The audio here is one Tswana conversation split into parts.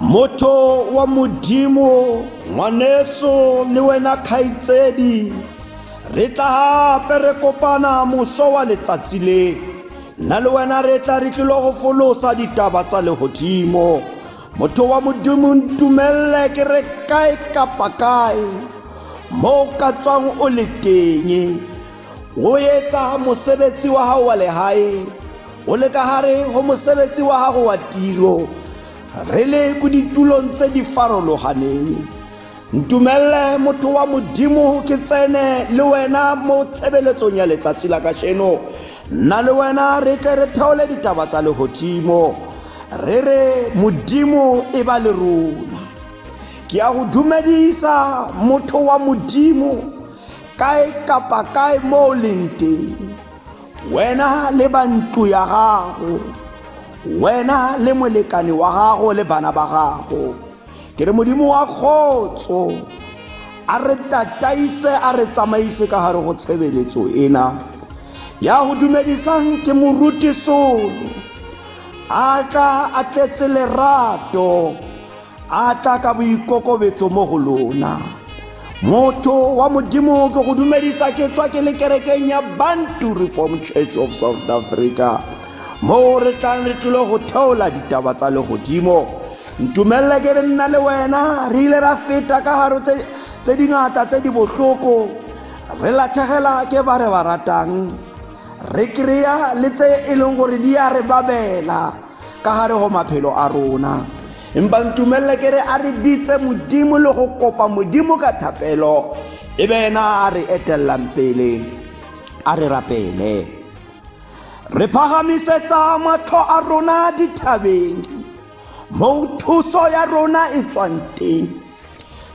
motho wa modimo ngwaneso le wena kgaitsedi re tla gape re kopana moso wa letsatsi le nna le wena re tla re tlilo go folosa ditaba tsa legodimo motho wa modimo ntumelele ke re kae kapa kae mo o ka tswang o le teng Ho etsa mosebetsi wa hao wa lehae o le ka hare ho mosebetsi wa gago wa tiro re le ko ditulong tse di farologaneng ntumelele motho wa modimo ke tsene le wena mo tshebeletsong ya letsatsi la kasheno nna le wena re tle re theole ditaba tsa legodimo re re modimo e ba le rona ke ya go dumedisa motho wa modimo kae kapa kae mo o leng teng wena le ba ntlo ya gago wena le molekane wa gago le bana ba gago ke re modimo wa kgotso a re tataise a re tsamaise ka gare go tshebeletso ena ya go dumedisang ke moruti solo a tla a tletse lerato a tla ka boikokobetso mo go lona motho wa modimo ke go dumedisa ke tswa ke le kerekeng ya bantu reform church of south africa moo re tlang re tlile go theola ditaba tsa legodimo ntumelele ke re nna le wena re ile ra feta ka garo tse dingata tse di botlhoko re latlhegela ke ba re ba ratang re kry-a le tse e leng gore di ya re babela ka gare go maphelo a rona empa ntumelele ke re a re bitse modimo le go kopa modimo ka thapelo e be ena a re etelelang pele a re rapele re phagamisetsa matlho a rona dithabeng moo thuso ya rona e tswang teng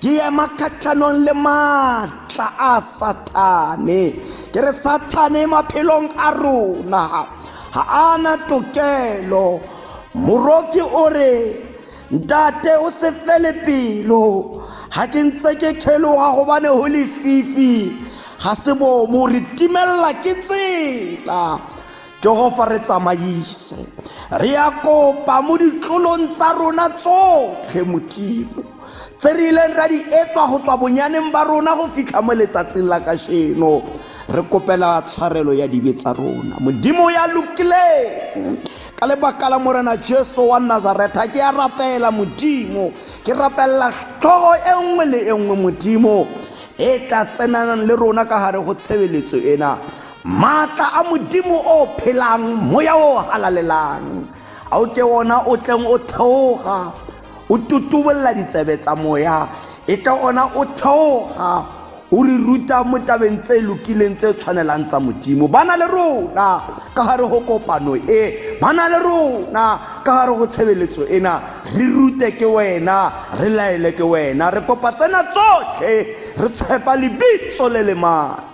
ke ema kgatlhanong le maatla a sathane ke re sathane maphelong a rona ga ana tokelo moroki o re ntate o se fele pelo ga ke ntse ke kheloga gobane go lefifi ga se bomo re timelela ke tsela jehova re tsamaise re ya kopa mo ditlolong tsa rona tsotlhe modimo tse re ileng ra di etswa go tswa bonyaneng ba rona go fitlha mo letsatsing la kasheno re kopela tshwarelo ya dibe tsa rona modimo ya lokileng ka lebaka la morena jesu wa nazaretha ke ya rapela modimo ke rapelela tlhogo e nngwe le e nngwe modimo e tla tsenanang le rona ka gare go tshebeletso ena Maatla a Modimo o phelang, moya o halalelang, a o ke ona o tleng o theoga, o tutubolla ditsebe tsa moya, e ke ona o theoga, o re ruta mo tabeng tse lokileng tse tshwanelang tsa modimo ba na le rona ka gare go kopano e ba na le rona ka gare go tshebeletso ena re rute ke wena re laele ke wena re kopa tsena tsotlhe re tshepa lebitso le le mane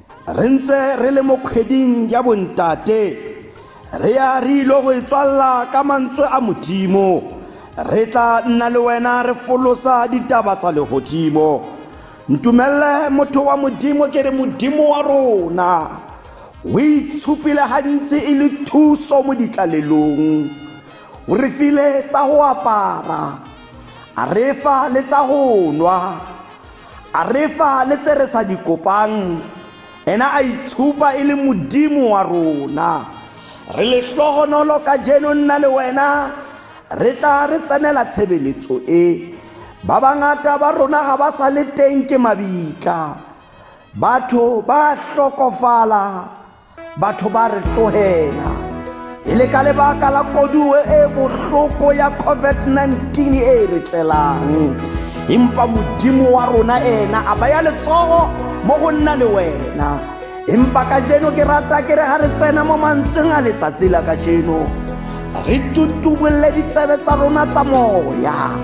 re ntse re le mo kgweding ya bontate re ya re ile go e tswalela ka mantswe a modimo re tla nna le wena re folosa ditaba tsa legodimo ntumelele motho wa modimo ke re modimo wa rona o itshupile gantsi e le thuso mo ditlalelong o re file tsa go apara a re fa le tsa go nwa a re fa le tse re sa di kopang ena a itshupa e le modimo wa rona re lehlohonolo ka jeno nna le wena re tla re tsenela tshebeletso e ba bangata ba rona ga ba sa le teng ke mabitla batho ba hlokofala batho ba re tlogela e le ka lebaka la koduo e bohloko ya covid-19 e e re tlelang empa modimo wa rona ena a baya letsogo mo go nna le wena empa ka jeno ke rata ke re ga re tsena mo mantsweng a letsatsi la ka jeno re tutubolole ditsebe tsa rona tsa moya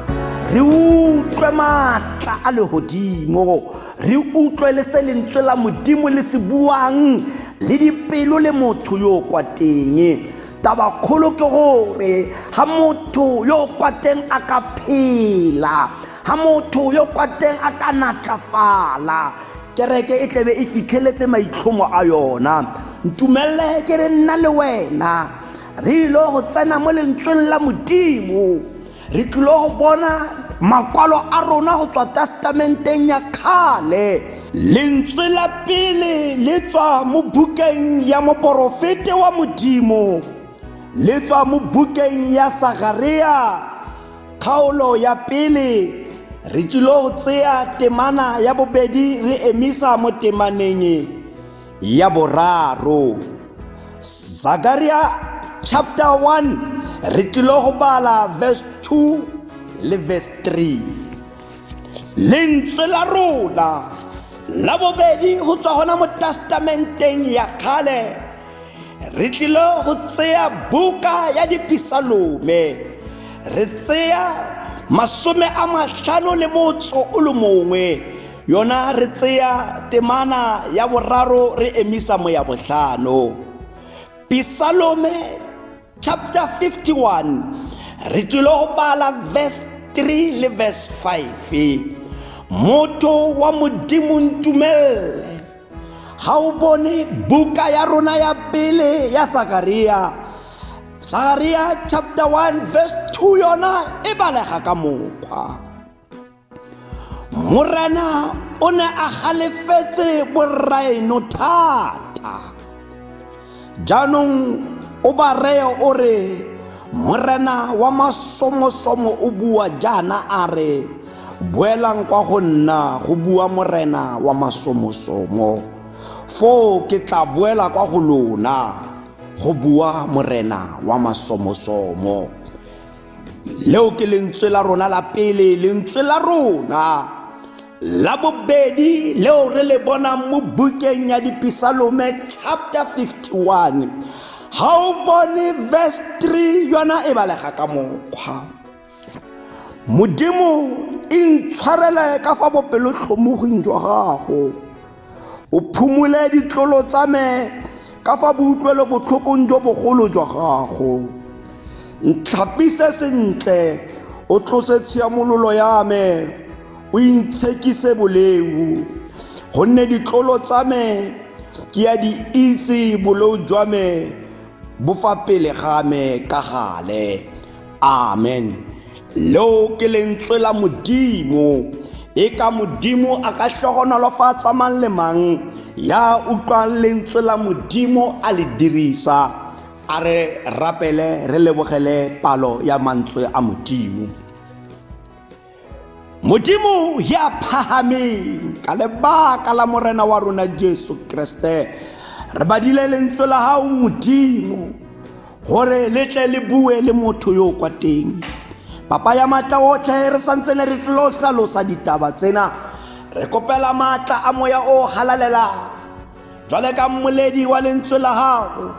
re utlwe maatla a legodimo re utlwe le se lentswe la modimo le se buang le dipelo le motho yo o kwa teng taba kgolo ke gore ga motho yo o kwa teng a ka phela ga motho yo kwa teng a ka natlafala kereke e tlebe e fitlheletse maitlhomo a yona ntumelele ke re nna le wena re ile go tsena mo lentsweng la modimo re tlile go bona makwalo a rona go tswa testamenteng ya kgale lentswe la pele le tswa mo bukeng ya moporofete wa modimo le tswa mo bukeng ya sagarea kgaolo ya pele re tsilo go tseya temana ya bobedi re emisa mo temaneng ya boraro zakaria chapter 1 re tlile go bala verse 2 le verse 3 lentswe la rona la bobedi go tswa gona mo testamenteng ya kgale re tlile go tseya buka ya dipisalome re tseya masome a matlhano le motso o le mongwe yona re tseya temana ya boraro re emisa moya botlhano pisalome chapter 51 re tlile go bala verse 3 le verse 5 motho wa modimo ntumelele ga o bone buka ya rona ya pele ya sakaria sakaria chapter 1 verse 2 yona e balega ka mokgwa morena o ne a galefetse borraeno thata jaanong o ba reye o re morena wa masomosomo o bua jaana a re boelang kwa go nna go bua morena wa masomosomo foo ke tla boela kwa go lona go bua morena wa masomosomo leo ke lentswe la rona la pele lentswe la rona la bobedi leo re le bonang mo bukeng ya dipisalome chapter 51 ga o bone verse 3 yona e balega ka mokgwa modimo e ntshwarele ka fa bopelotlhomoging jwa gago o phumole ditlolo tsa me ka fa boutlwelo botlhokong jo bogolo jwa gago ntlhapise sentle o tlose tshiamololo ya me o intshekise boleu gonne ditlolo tsa me ke ya di itse boleo jwa me bo fa pele ga me ka gale amen leo ke lentswe la modimo e ka modimo a ka hlogonolofatsa mang le mang ya utlwang lentswe la modimo a le dirisa a re rapele re lebogele palo ya mantswe a modimo modimo ya phahameng ka lebaka la morena wa rona jesu kreste re badile lentswe la gago modimo gore le tle le bue le motho yo o kwa teng papa ya maatla otlhe re santse ne re tlo tlhalosa ditaba tsena re kopela maatla a moya o galalelang jwale ka mmoledi wa lentswe la gago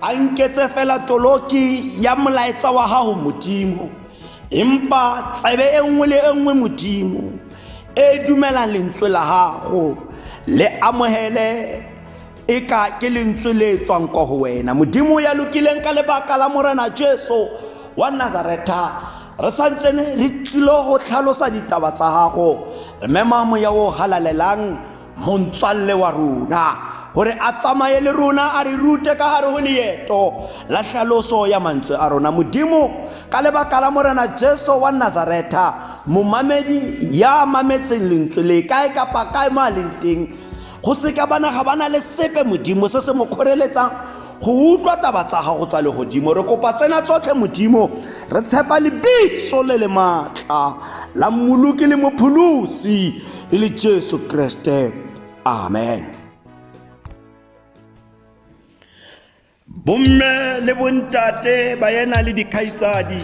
a nketse fela toloki ya molaetsa wa gago modimo empa tsebe e nngwe le e nngwe modimo e dumelang lentswe la gago le amogele e ka ke lentswe le tswang kwa go wena modimo ya lokileng ka lebaka la morena jesu wa nazaretha re santsene re tlilo go tlhalosa ditaba tsa gago re mema moya o galalelang montswalle wa rona gore a tsamaye le rona a re rute ka gare go leeto la tlhaloso ya mantswe a rona modimo ka lebaka la morena jesu wa nazaretha momamedi ya mametseng lentswe le kae kapa kae mo a leng teng go seka bana ga ba na le sepe modimo se se mo kgoreletsang go utlwa taba tsa gago tsa legodimo re kopa tsena tsotlhe modimo re tshepa lebitso le le maatla la mmoloki le mopholosi e le jesu kreste amen bomme le bontate ba yena le dikgaitsadi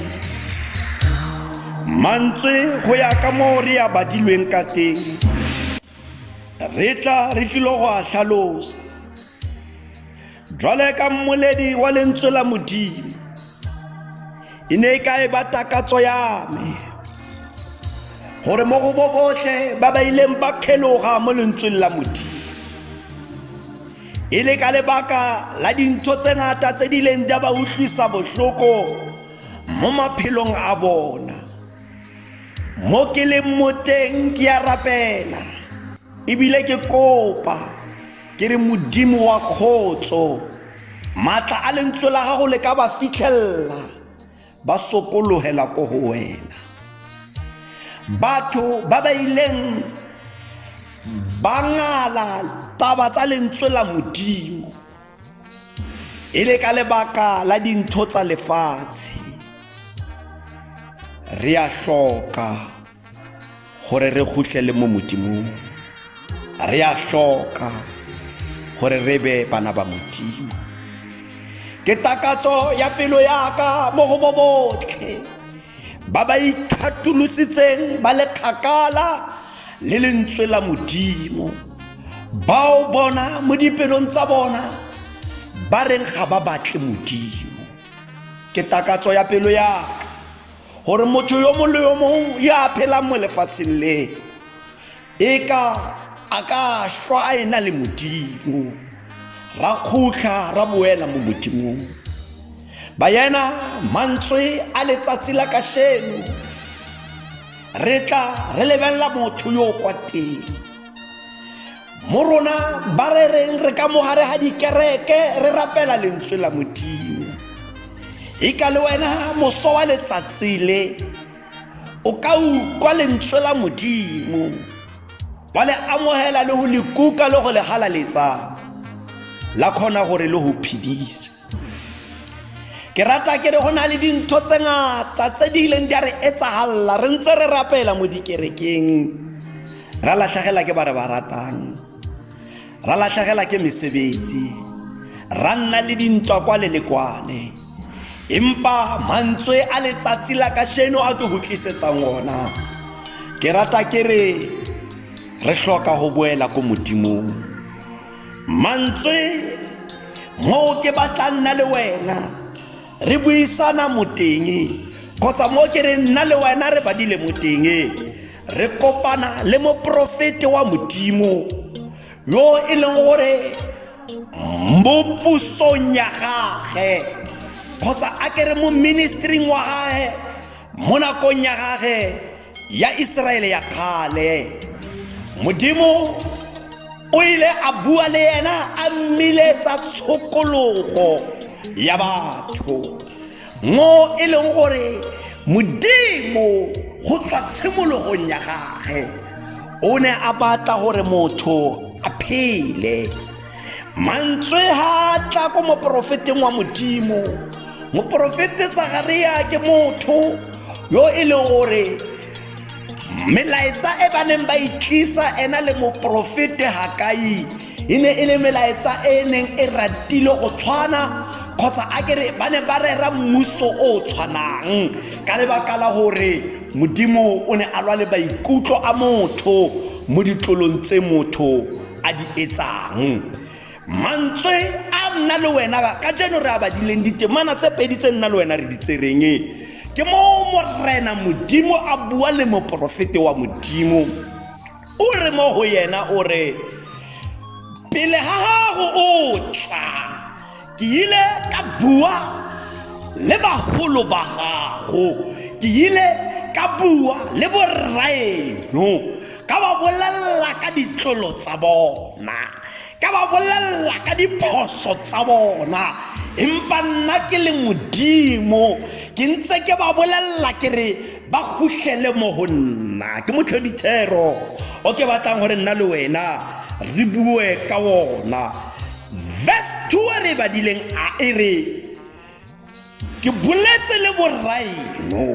mantswe go ya ka moo re ya badilweng ka teng re tla re tlilo go a tlhalosa jwale ka mmoledi wa lentswe la modimo e ne e ka e ba takatso ya me gore mo go bo botlhe ba ba ileng ba kgeloga mo lentsweng la modimo e le ka lebaka la dintho tse ngata tse di ileng di a ba utlwisa botlhoko mo maphelong a bona mo ke leng moteng ke a rapela ebile ke kopa ke re modimo wa kgotso maatla a lentswe la gago le ka ba fitlhelela ba sokologela ko go wena batho ba ba ileng ba ngala taba tsa lentswe la modimo e le ka lebaka la dintho tsa lefatshe re a hloka gore re khutlele mo modimong re a hloka gore re be bana ba modimo ke takatso ya pelo yaka mo go bo botlhe ba ba ikgatolositseng ba le kgakala le lentswe la modimo ba o bona mo dipelong tsa bona ba reng ga ba batle modimo ke takatso ya pelo yaka gore motho yo mongwe le yo mongwe yo a phelang mo lefatsheng le e ka a ka shwa a ena le modimo ra khutlha ra boela mo modimong bayena mantswe a letsatsi la kasheno re tla re lebelela motho yo kwa teng mo rona ba re reng re ka mogare ga dikereke re rapela lentswe la modimo e ka le wena moso wa letsatsi le o ka utlwa lentswe la modimo wa le amogela le go le kuka le go le galaletsa la kgona gore le go phedise ke rata ke re go na le dintho tse ngata tse di ileng di a re etsagalela re ntse re rapela mo dikerekeng ra latlhagela ke ba re ba ratang ra latlhagela ke mesebetsi ra nna le dintwa kwa le le kwale empa mantswe a letsatsi la ka sheno a ke go tlisetsang ona ke rata ke re re hloka go boela ko modimong mantswe moo ke batla nna le wena re buisana moteng kgotsa mo ke re nna le wena re badile moteng re kopana le moporofete wa modimo yo e leng gore mo pusong ya gage kgotsa a ke re mo ministering wa gage Mo nakong ya gage ya Iseraele ya kgale, Modimo o ile a bua le ena a mmiletsa tshokologo ya batho mo e leng gore modimo go tswa tshimologong ya gage o ne a batla gore motho a phele mantswe ha a tla ko moporofeteng wa modimo moporofete sagaria ke motho yo e leng gore melaetsa e ba neng ba itlisa e ena le moporofete hakai e ne e le melaetsa e e neng e ratile go tshwana kgotsa a kere ba ne ba rera mmuso o o tshwanang ka lebaka la gore modimo o ne a lwa le maikutlo a motho mo ditlolong tse motho a di etsang mantswe a nna le wena ka jeno re a badileng ditemana tse pedi tse nna le wena re di tsereng ke mo morena modimo a bua le moporofete wa modimo o re mo go yena o re pele ga gago o tla ke ile ka bua le bagolo ba gago ke ile ka bua le borraeno ka ba bolelela ka ditlolo tsa bona ka ba bolelela ka diphoso tsa bona empa nna ke le modimo ke ntse ke ba bolelela ke re ba khutlele mo go nna ke motlhodithero o ke batlang gore nna le wena re bue ka ona Verse 2 e re badileng a e re ke boletse le borraeno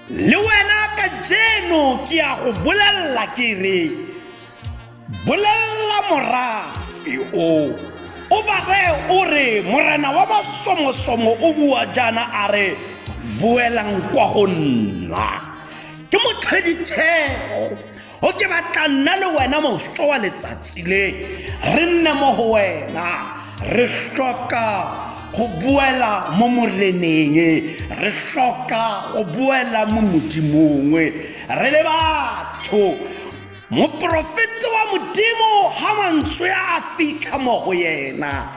le wena ka jeno ke ya go bolelela ke re bolelela morafe o o ba reye o re morena wa masomosomo o bua jaana a re boelang kwa go nna ke motlhedithego o ke batla nna le wena moso wa letsatsi le re nne mo go wena re tlhoka go boela mo moreneng re tlhoka go boela mo modimong re le batho moporofeta wa modimo ga mantswe a fitlha mo go yena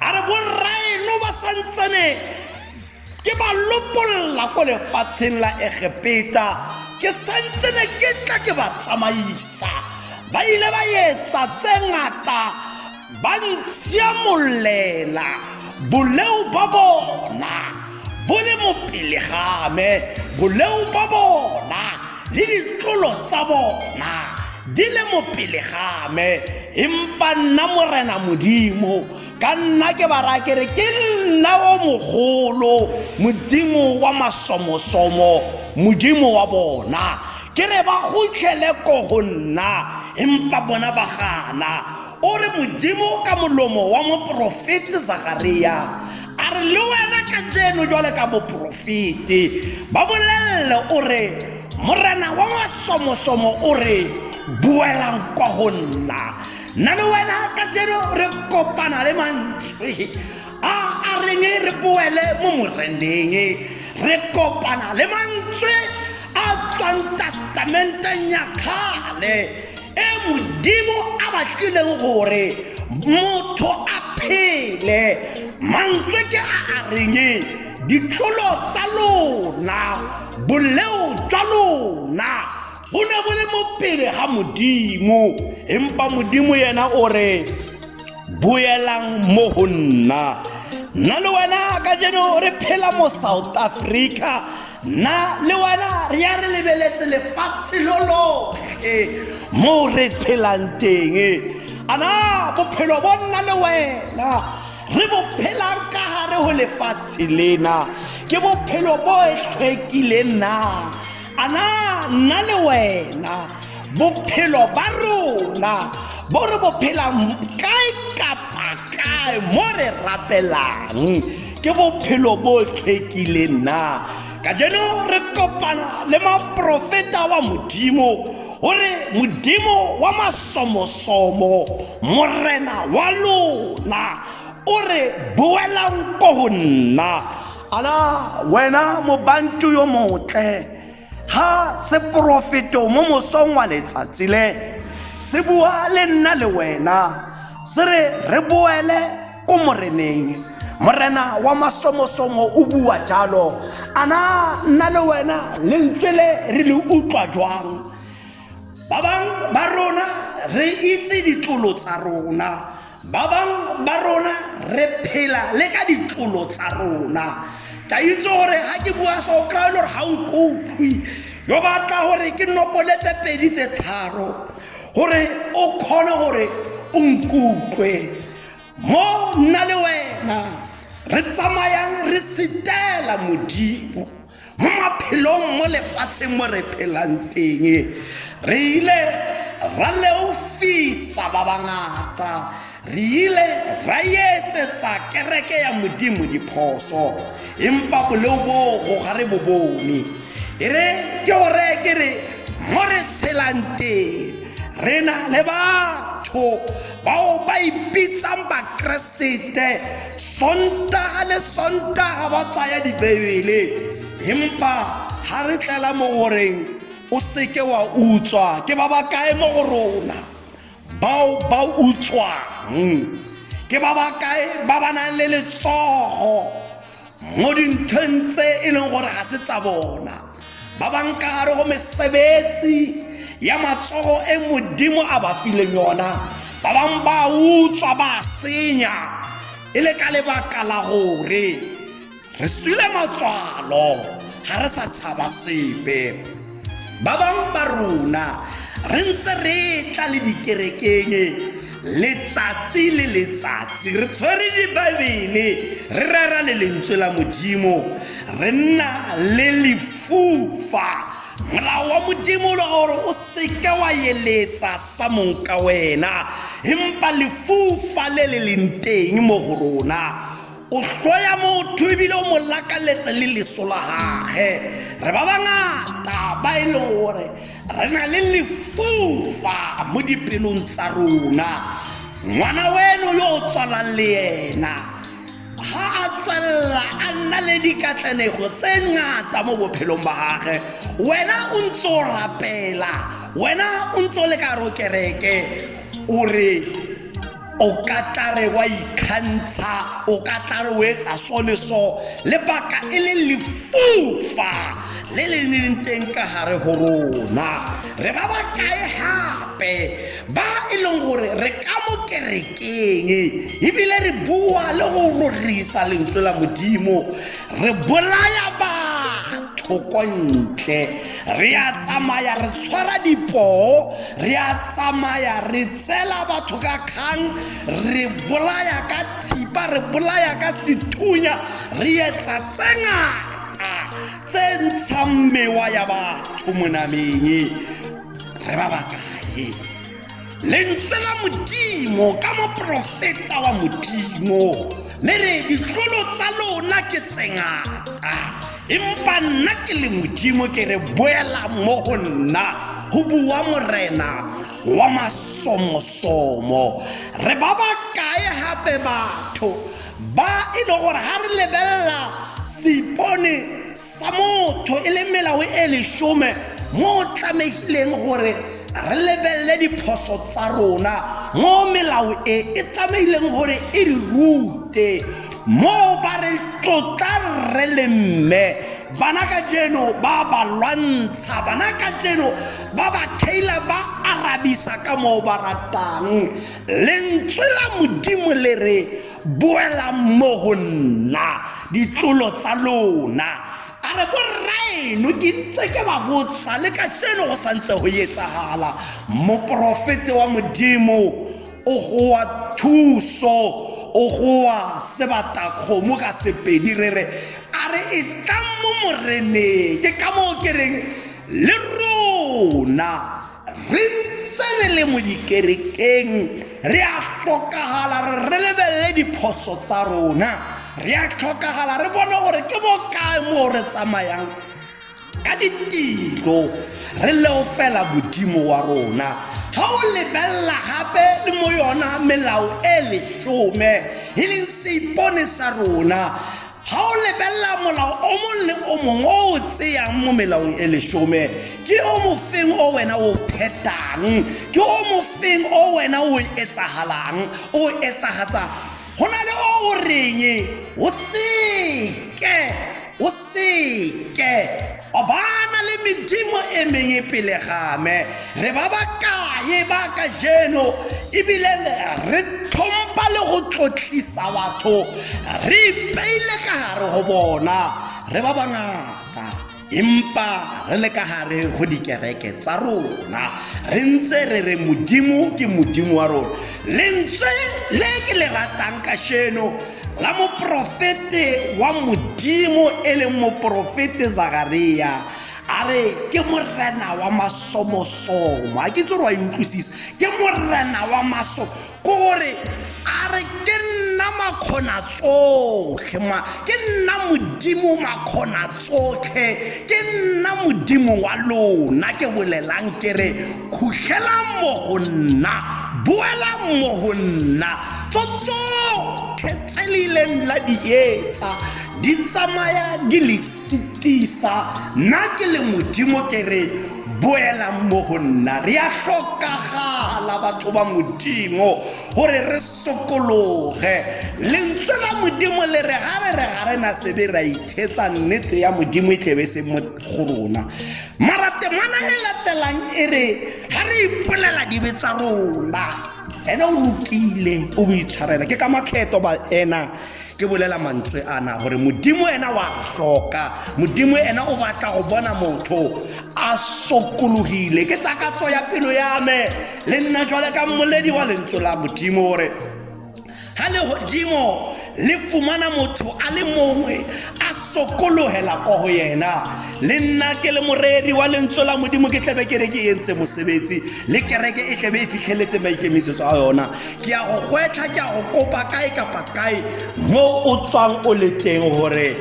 a re borraeno ba santsane ke ba lopolola ko lefatsheng la egepeta ke santsene ke tla ke ba tsamaisa ba ile ba etsa tse ngata ba ntsia molela boleo ba bona bo le mopele game boleo ba bona le ditlolo tsa bona di le mopele game empa nna morena modimo ka nna ke ba raya kere ke nna o mogolo modimo wa masomosomo modimo wa bona ke re ba gotlhele ko go nna empa bona ba gana o re modimo ka molomo wa moporofete zakaria a re le wena ka jeno jwale ka moporofete ba bolelele o re morena wa masomosomo o re boelang kwa go nna nna le wena ka jeno re kopana le mantswe a a reng re boele mo morendeng re kopana le mantswe a tswang testamenteng ya kgale e modimo a batlileng gore motho a phele mantswe ke a a reng ditlholo tsa lona boleo jwa lona bo ne bo le mo pele ga modimo empa modimo yena o re boelang mo go nna nna le wena ka jeno re phela mo south africa nna le wena re ya re lebeletse lefatshe lo lotlhe mo re phelang teng ana bophelo bo nna le wena re bo phelang ka gare go lefatshe lena ke bophelo bo e tlhwekileng na a na nna le wena bophelo ba rona bo re bo phelang kae kapa kae mo re rapelang ke bophelo bo tlhekileng na ka jeno re kopana le maprofeta wa modimo o re modimo wa masomosomo morena wa lona o re boelang ko go nna ala wena mobantu yo motle ha seporofeto mo mosong wa letsatsi le se bua le nna le wena se re re boele ko moreneng morena wa masomosomo o bua jalo ana nna le wena lentswe le re le utlwa jwang ba bangwe ba rona re itse ditlolo tsa rona Ba bangwe ba rona re phela le ka ditlolo tsa rona. Ke a itse gore ga ke bua so o kry-e le gore ga o nkutlwe yo batla gore ke nopoletse pedi tse tharo gore o kgone gore o nkutlwe mo nna le wena re tsamayang re setela modimo mo maphelong mo lefatsheng mo re phelang teng re ile ra leofisa ba bangata re ile ra etsetsa kereke ya modimo diphoso empa boleo boo go ga re bo bone e re ke go reye ke re mo re tshelang teng re na le batho bao ba ipitsang bakreste sete sontaga le sontaga ba tsaya dibebele empa ga re tlela mo goreng o seke wa utswa ke ba ba kae mo go rona bao ba utswang ke ba ba kae ba ba nang le letsogo mo dinthong tse e leng gore ga se tsa bona ba bankare go mesebetsi ya matsogo e modimo a ba fileng yona ba bangwe ba utswa ba senya e le ka lebaka la gore re swile matswalo ga re sa tshaba sepe Ba bang ba rona re ntse re tla le dikerekeng letsatsi le letsatsi re tshwere dibaebele re rera le lentswe la modimo re nna le lefufa molao wa modimo o le gore o seke wa eletsa sa mong ka wena empa lefufa le le leng teng mo go rona o hloya motho ebile o mo lakaletse le leso la gage re ba bangata ba e leng gore re na le lefufa mo dipelong tsa rona ngwana weno yo o tswalang le yena ga a tswelela a nna le dikatlanego tse ngata mo bophelong ba gage wena o ntse o rapela wena o ntse o le ka ro kereke o re o ka tlare wa ikgantsha o ka tlare o etsa so le so lebaka e le lefufa le le leng teng ka gare go rona re ba ba kae gape ba e leng gore re ka mo kerekeng ebile re bua le go rorisa lentswe la modimo re bolaya batho ko ntle re a tsamaya re tshwara dipoo re a tsamaya re tsela batho ka kgang re bolaya ka thipa re bolaya ka sethunya re etsa tse ngata tse ntshang mewa ya batho monameng re ba bakae lentswe la modimo ka moprofeta wa modimo le re ditlolo tsa lona ke tsengata empa nna ke le modimo ke re boela mo go nna go bua morena wa masomosomo re ba ba kae gape batho ba e le gore ga re lebelela seipone sa motho e le melao e lesome mo o tlamegileng gore re lebelele diphoso tsa rona mo melao e e tlamehileng gore e re rute mo ba re tlotla rre le mme bana ka jeno ba ba lwantsha bana ka jeno ba ba thaila ba arabisa ka moo ba ratang lentswe la modimo le re boela mo go nna ditlolo tsa lona a re borraeno ke ntse ke ba botsa le ka seno go santse go etsagala moporofete wa modimo o goa thuso o goa sebatakgomo ka sepedi re re a re e tlang mo moreneng ke ka moo ke reng le rona re ntse re le mo dikerekeng re a tlhokagala re re lebelele diphoso tsa rona re a tlhokagala re bone gore ke mo kae moo re tsamayang ka ditiro re leo fela modimo wa rona ga o lebelela gape le mo yona melao e lesome e leng seipone sa rona ga o lebelela molao o mongwe le o mongwe o o tseyang mo melaong e lesome ke o mofeng o wena o phetang ke o mofeng o wena o etsagalang o etsagatsa go na le o o reng o seke o seke Ba ba na le medimo e mengwe pele ga me. Re ba ba kae ba ka jeno ebile re tlhompha le go tlotlisa batho re ipeile ka gare go bona re ba bangata empa re le ka gare go dikereke tsa rona re ntse re re modimo ke modimo wa rona lentswe le ke le ratang ka sheno la moporofete wa modimo e leng moporofete zakaria a re ke morena wa masomosomo a ke tse gore wa e utlwisisa ke morena wa maso ko gore a re ke nna makgona tsotlhe ma ke nna modimo makgona tsotlhe ke nna modimo wa lona ke bolelang ke re khutlhelang mo go nna boelang mo go nna tsotsotlhe tse le ileng la di etsa di tsamaya di le tisa nna ke le modimo ke re boelang mo go nna re a tlhokagala batho ba modimo gore re sokologe lentswe la modimo le re ga re re ga re na sebe ra ithetsa nnete ya modimo e tlebe se mo go rona mara temana e latelang e re ga re ipolela dibe tsa rona ene o lokile o boitshwarela ke ka makgetho ba ena ke bolela mantswe ana gore modimo ena wa tlhoka modimo ena o batla go bona motho a sokologile ke takatso ya pelo ya me le nna jwale ka mmoledi wa lentswe la modimo gore ga legodimo le fumana motho a le mongwe a sokologela ko go yena le nna ke le moreri wa lentswe la modimo ke tlebe kereke e ntse mosebetsi le kereke e tlebe e fitlheletse maikemisetso a yona ke ya go gwetlha ke ya go kopa kae kapa kae mo o tswang o le teng gore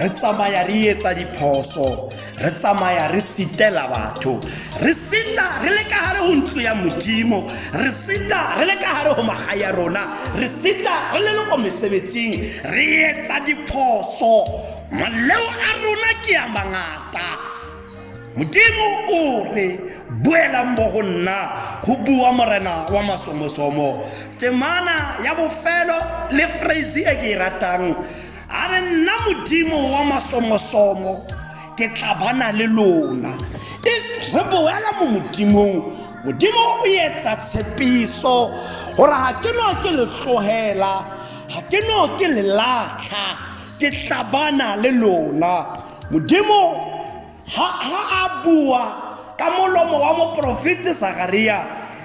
re tsamaya re etsa diphoso re tsamaya re sitela batho re sita re le ka gare go ntlo ya modimo re sita re le ka gare go maga ya rona re sita re le le ko mesebetsing re etsa diphoso maleo a rona ke ya mangata modimo o re boelang mo go nna go bua morena wa masomosomo temana ya bofelo le phrase e ke e ratang a re nna modimo wa masomosomo ke tla bana le lona e re boela mo modimong modimo o etsa tshepiso gore ga ke no ke le tlogela ga ke no ke le latlha ke tlabana le lona modimo ha a bua ka molomo wa moporofete sagaria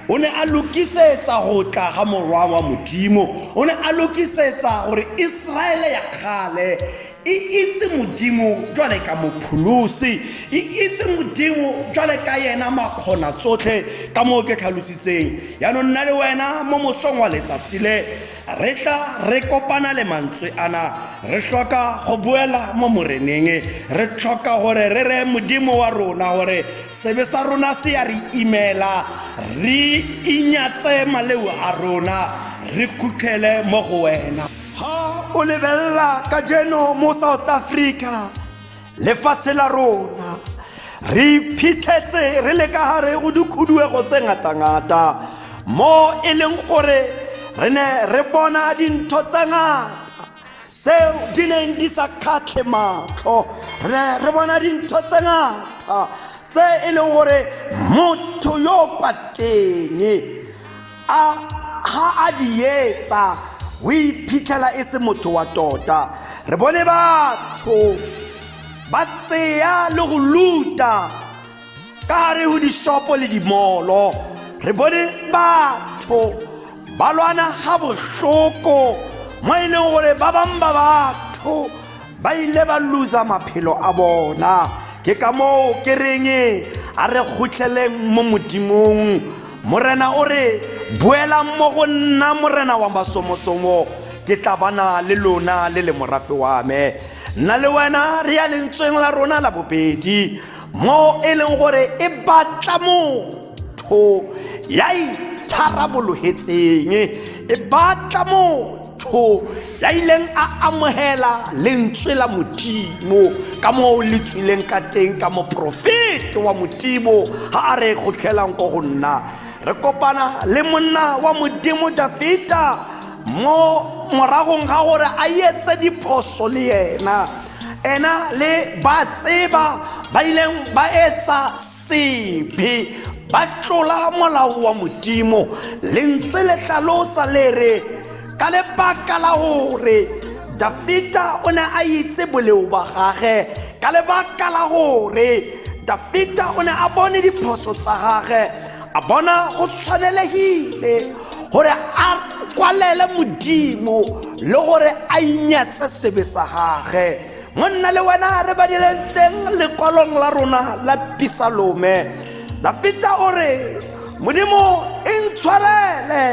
o ne a lokisetsa go tla ga morwa wa modimo o ne a lokisetsa gore iseraele ya kgale e itse modimo jwale ka mopholosi e itse modimo jwale ka yena makgona tsotlhe ka moo ke tlhalositseng yaanong nna le wena mo mosong wa letsatsi le re tla re kopana le mantswe ana re tlhoka go boela mo moreneng re tlhoka gore re re modimo wa rona gore sebe sa rona se ya re imela re inyatse maleo a rona re khutlhele mo go wena ha o lebelela ka jeno mo south africa lefatshe la rona re iphitlhetse re le ka gare go dikhuduego tse ngatangata mo e leng gore re ne re bona dintho tse ngata tseo di neng di sa kgatlhe matlho re ne re bona dintho tse ngata tse e leng gore motho yo kwa teng a ga a di etsa o iphitlhela e se motho wa tota re bone batho ba tseya le go luta ka gare go dishopo le dimolo re bone batho ba lwana ga bohloko mo e leng gore ba bangwe ba batho ba ile ba losa maphelo a bona ke ka moo ke reng a re kgotlheleng mo modimong morena o re boelang mo go nna morena wa masomosomo ke tla bana le lona le le morafe wa me nna le wena re ya lentsweng la rona la bobedi mo e leng gore e batla motho ya itharabologetseng e batla motho motho ya ileng a amogela lentswe la modimo ka moo le tswileng ka teng ka moporofete wa modimo ga a re kgotlhelang ko go nna re kopana le monna wa modimo dafita mo moragong ga gore a etse diphoso le yena ena le ba tseba ba ileng ba etsa sebe ba tlola molao wa modimo lentswe le tlhalosa le re ka lebaka la gore dafita o ne a itse boleo ba gage ka lebaka la gore dafita o ne a bone diphoso tsa gage a bona go tshwanelegile gore a kwalele modimo le gore a inyatse sebe sa gage mo nna le wena re badileng teng lekwalong la rona la pisalome dafita o re modimo e ntshwarele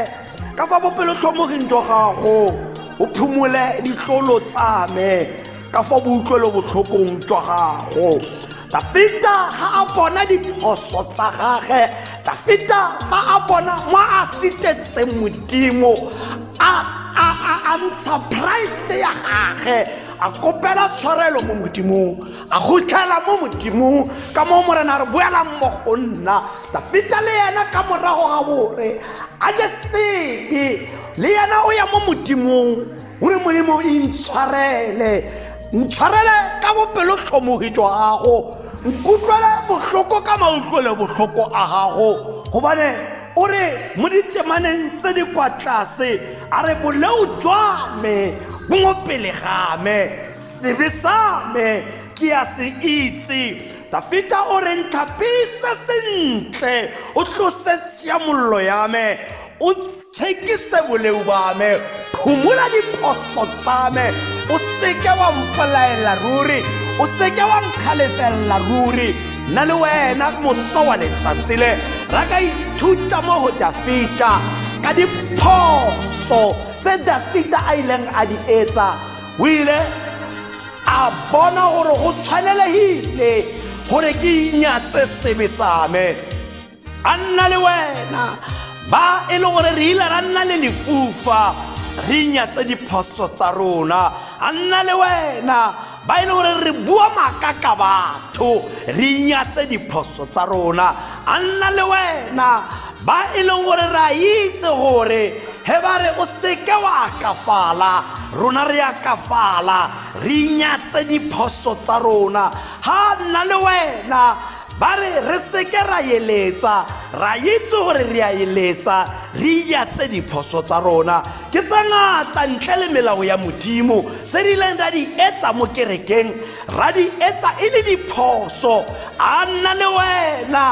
ka fa bopelotlhomoging jwa gago o phumole ditlolo tsa me ka fa boutlwelobotlhokong jwa gago dafita ga a bona diphoso tsa gage dafita fa a bona mo a sitetseng modimo a ntsha pride ya gage a kopela tshwarelo mo modimong a gotlhela mo modimong ka moo morena re boela mo go nna dafita le yena ka morago ga bore a je sebe le yena o ya mo modimong o re modimo e ntshwarele ntshwarele ka bopelo tlhomogi jwa gago nkutlwele botlhoko ka mautlwele botlhoko a gago gobane o re mo ditsemaneng tse di kwa tlase a re boleo jwa me bo mo pele ga me sebe sa me ke a se itse dafita o re ntlhapise sentle o tlose tshiamololo ya me o tshekise boleu ba me phumula diphoso tsa me o seke wa mpolaela ruri o seke wa nkgalefelela ruri nna le wena moso wa letsatsi le ra ka ithuta mo go dafita ka diphoso tse dafita a ileng a di etsa o ile a bona gore go tshwanelegile gore ke inyatse sebe same a nna le wena ba e le gore re ile ra nna le lefufa re nyatse diphoso tsa rona a nna le wena ba e le gore re bua maaka ka batho re nyatse diphoso tsa rona a nna le wena ba e leng gore re a itse gore he ba re o seke wa akafala rona re akafala re nyatse diphoso tsa rona ga nna le wena ba re re seke ra eletsa ra itse gore re a eletsa re iatse diphoso tsa rona ke tse ngata ntle le melao ya modimo se di ileng ra di etsa mo kerekeng ra di etsa e le diphoso a nna le wena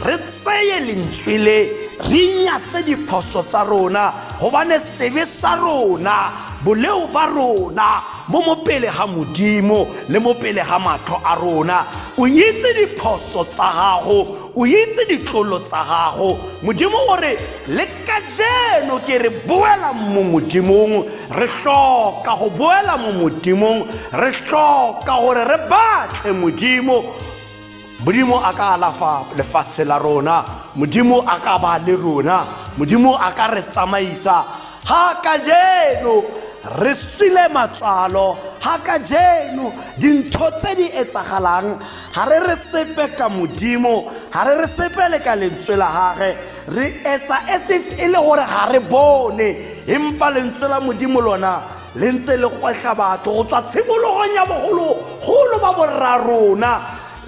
re tseye lentswe le re inyatse diphoso tsa rona gobane sebe sa rona boleo ba rona mo mo pele ga modimo le mo pele ga matlho a rona o itse diphoso tsa gago o itse ditlolo tsa gago modimo o re le ka jeno ke re boela mo modimong re tlhoka go boela mo modimong re tlhoka gore re batle modimo modimo a ka alafa lefatshe la rona modimo a ka ba le rona modimo a ka re tsamaisa ga ka jeno re swile matswalo ga ka jeno dintho tse di etsagalang ga re re sepe ka modimo ga re re sepe le ka lentswe la gage re etsa as if e le gore ga re bone empa lentswe la modimo lona le ntse le gwehla batho go tswa tshimologong ya bogologolo ba borra rona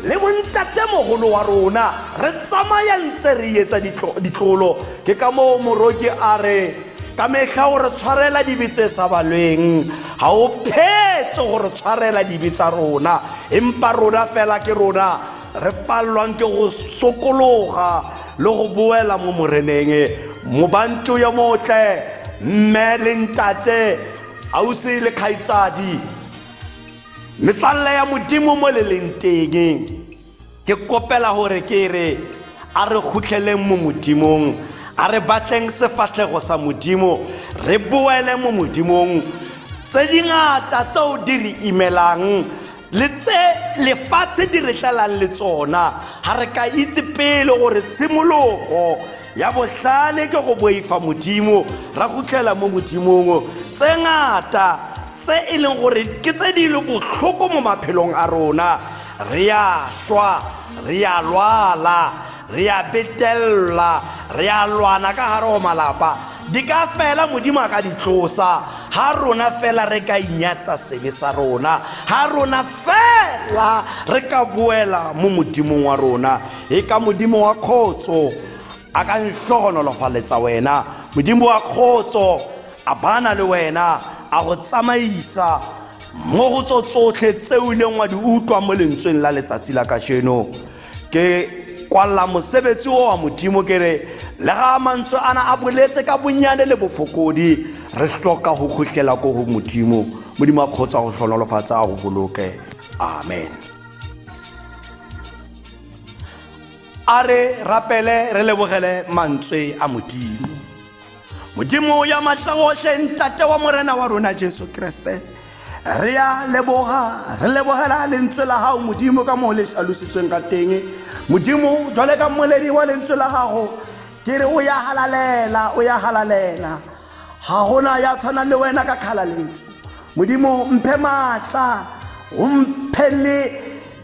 le bontatemogolo wa rona re tsamaya ntse re etsa ditlolo ke ka moo moroke a re ka metlha o re tshwarela dibe tse sa balweng ga o phetse go re tshwarela dibe tsa rona empa rona fela ke rona re palelwang ke go sokologa le go boela mo moreneng mobanto yo motle mme le ntate ausi le kgaitsadi metswalle ya modimo mo le leng teng ke kopela gore ke re a re khutlheleng mo modimong a re batleng sefatlhego sa modimo re boele mo modimong tse dingata tseo di re imelang le tse lefatshe di re tlalang le tsona ga re ka itse pele gore tshimologo ya bohlale ke go boifa modimo ra gutlela mo modimong tse ngata tse e leng gore ke tse di le botlhoko mo maphelong a rona re a šwa re a lwala re a betelela re a lwana ka gare go malapa di ka fela modimo a ka di tlosa ga rona fela re ka inyatsa sebe sa rona ga rona fela re ka boela mo modimong wa rona e ka modimo wa kgotso a ka ntlhogonolofaletsa wena modimo wa kgotso a bana le wena a go tsamaisa mo go tso tsotlhe tse o ileng wa di utlwa mo lentsweng la letsatsi la kasheno ke kwalela mosebetsi o wa modimo ke re le ga mantswe a na a boletse ka bonnyane le bofokodi re hloka go kgotlela ko go modimo modimo a kgotsa go tlhonolofatsa a go boloke amen a re rapele re lebogele mantswe a modimo modimo ya matlagotlhe ntate wa morena wa rona jesu keresete re ya leboga re lebogela lentswe la gago modimo ka moo le tlhalositsweng ka teng modimo jwale ka mmoledi wa lentswe la gago ke re o ya galalela o ya galalela ga gona ya tshwanang le wena ka kgalaletso modimo mphe maatla o mphe le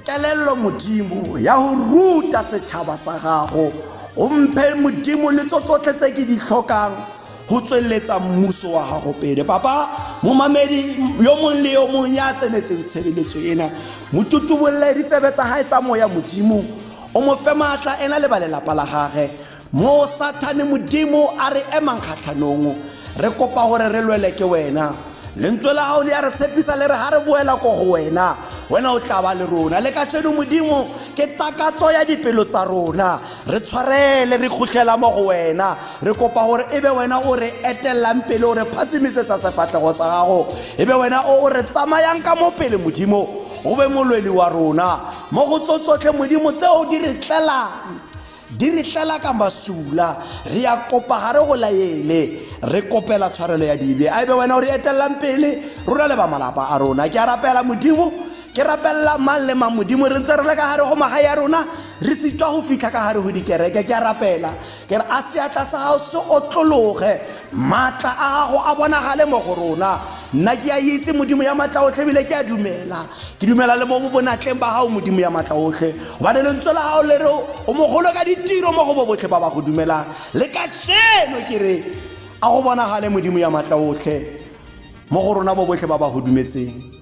kelello modimo ya go ruta setšhaba sa gago o mphe modimo le tso tsotlhe tse ke di tlhokang go tsweletsa mmuso wa gago pele papa momamedi yo mongwe le yo mongwe ya tsenetseng tshebeletso ena motutubolole ditsebe tsa gae tsa moya modimo o mo fe maatla ena le ba lelapa la gage Moo Sathane Modimo a re emang kgatlhanong, re kopa gore re lwele ke wena. Lentswe la gago le ya re tshepisa le re ga re boela ko go wena, wena o tla ba le rona. Le kasheno Modimo ke takatso ya dipelo tsa rona. Re tshwarele re khutlhela mo go wena. Re kopa gore e be wena o re etelelang pele o re phatsimisetsa sefatlhego sa gago. E be wena o o re tsamayang ka mo pele Modimo, o be molweli wa rona mo go tso tsotlhe Modimo tseo di re tlelang. di re tlela ka masula re ya kopa ga re go laele re kopela tshwarelo ya dibe a ebe wena o re etelelang pele rona le ba malapa a rona ke a rapela modimo ke rapelela mang le mang modimo re ntse re le ka gare go magae ya rona re sitwa go fitlha ka gare go dikereke ke a rapela ke re a seatla sa gago se otlologe maatla a gago a bonagale mo go rona nna ke a itse modimo ya maatla otlhe ebile ke a dumela ke dumela le mo bo bonatleng ba gago modimo ya maatla otlhe gobane lentswe la gago le re o mogolo ka ditiro mo go bo botlhe ba ba go dumelang le ka seno ke re a go bonagale modimo ya maatla otlhe mo go rona bo botlhe ba ba go dumetseng